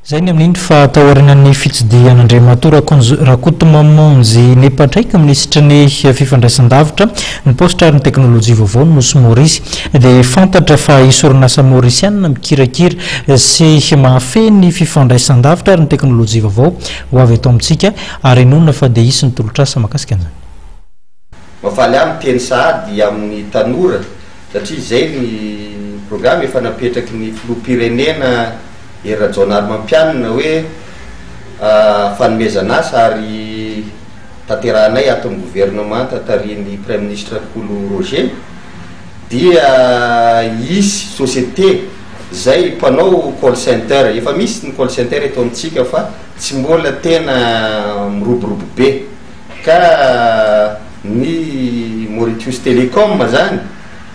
Izay ny amin'iny fa taorianan'ny fitsidihan'Andriamatoa Rakonjo Rakotomamonjy nipatraika minisitry ny fifandraisandavitra, ny paositra ary ny teknolojia vaovao ny nosy Maorisy dia fantatra fa hisy orinasa maorisianina mikirakira sy mahafehy ny fifandraisandavitra ary ny teknolojia vaovao ho avy eto amintsika ary inoana fa dia hisy ny tolotr'asa mahakasika an'izany. Mafaly ahy miteny sahady aminy tanora satria zay ny programa efa napetraky ny filoha mpirenena Hery Rajaonarimampianina hoe fanomezana asa ary tanterahanay ato ny governemanta tarihin'ny praiminisitra Rakolo Roger dia hisy société zay mpanao call center efa misy ny call center eto amintsika fa tsy mbola tena miroborobo be Ka ny Mauritius Telecom zany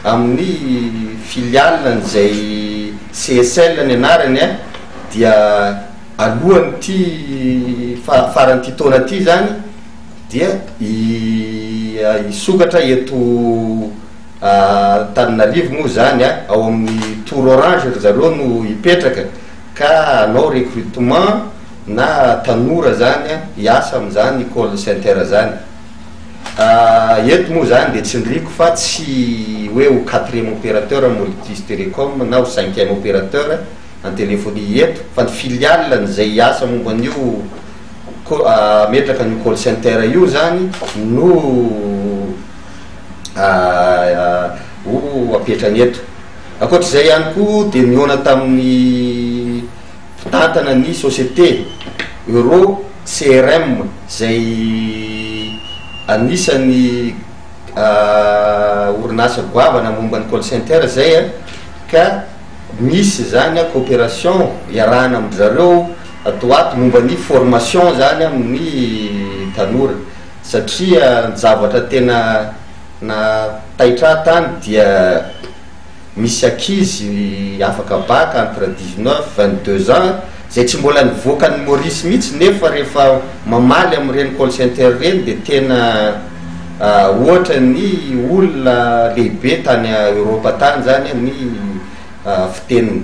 amin'ny filiale an'izay CSL ny anarany a, dia alohan'ity faran'ity taona ity zany dia hisokatra eto Antananarivo moa zany a, ao amin'ny tour orange ry zareo no hipetraka ka hanao recrutement. na tanora zany a hiasa amin'izany call center zany ah, eto moa zany dia tsindriako fa tsy hoe ho quatrième opérateur Multis Telecom na ho cinquième opérateur en téléphonie eto fa ny filiale an'izay hiasa momba an'io ko- ah, hametraka an'io call center io zany no ah, ho apetrany eto ankoatr'izay ihany koa dia nihaona tamin'ny mpitantana ny société Euro CRM izay anisan'ny orinasa goavana momba ny call center izay an, ka misy izany an cooperation iarahana amin-dry zareo ato ho ato momba ny formation izany amin'ny tanora satria ny zavatra tena na taitra ahy tany dia misy ankizy afaka bac entre dix neuf, vingt deux ans izay tsy mbola nivoaka an'i Maurice mihitsy nefa rehefa mamaly amin'ireny call center ireny dia tena ohatra ny olona lehibe tany Europe tany izany ny fiteniny.